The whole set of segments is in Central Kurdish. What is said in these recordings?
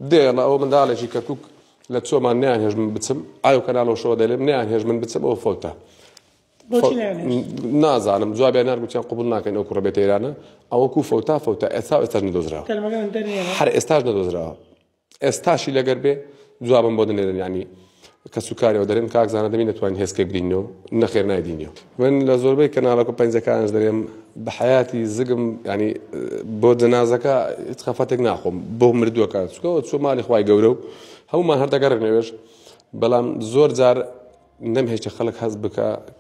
دێڵە ئەو منداڵێکی کەرکک لە چۆمان نیان هێژ من بچم ئاو کەناڵۆشەوە دەلێم نیان هێژ من بچم ئەو فەوتە نازانم جوابیان نارگوتیان قوبول ناکەن ئەو کوڕبێت ئێرانە ئەوەکو فەوتا فەوتا ئێستا ئێستاش نەدۆزراوە هەر ئێستاش نەدۆزراوە ئێستاشی لەگەر بێ جوابم بۆ دەنێرن ینی کەسوکارەوە دەرێن کاک زانا دەمی نەتوانین هێزکێک بدینەوە نەخێر نایدینەوە من لە زۆربەی کەناڵەکە پەنجەکانش دەرێم بە حیاتی زگم ینی بۆ جەنازەکە هیچ خەفەتێک ناخۆم بۆ مردووەکە چکەوە چۆ مالی خی گەورە و هەمومان هەردەگەڕێنەوێش بەڵام زۆر جار نەمهێشتە خەڵک هەز بکە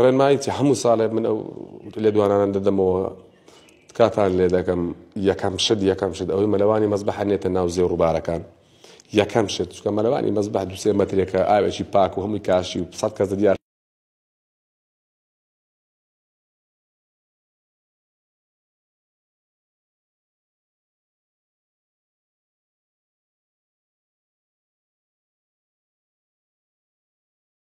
ڕێنمایی چ هەموو ساڵێ من ئەو لێدوانانە دەدەمەوە تکاتان لێ دەکەم یەکەم شت یەکەم شت ئەوەی مەلەوانی مەزبەحە نێتە ناو زێ ڕووبارەکان یەکەم شت چکە مەلەوانی مەزبەح دوسێ مەترێکە ئاوێکی پاک و هەمووی کاشی و سەد کەس دیار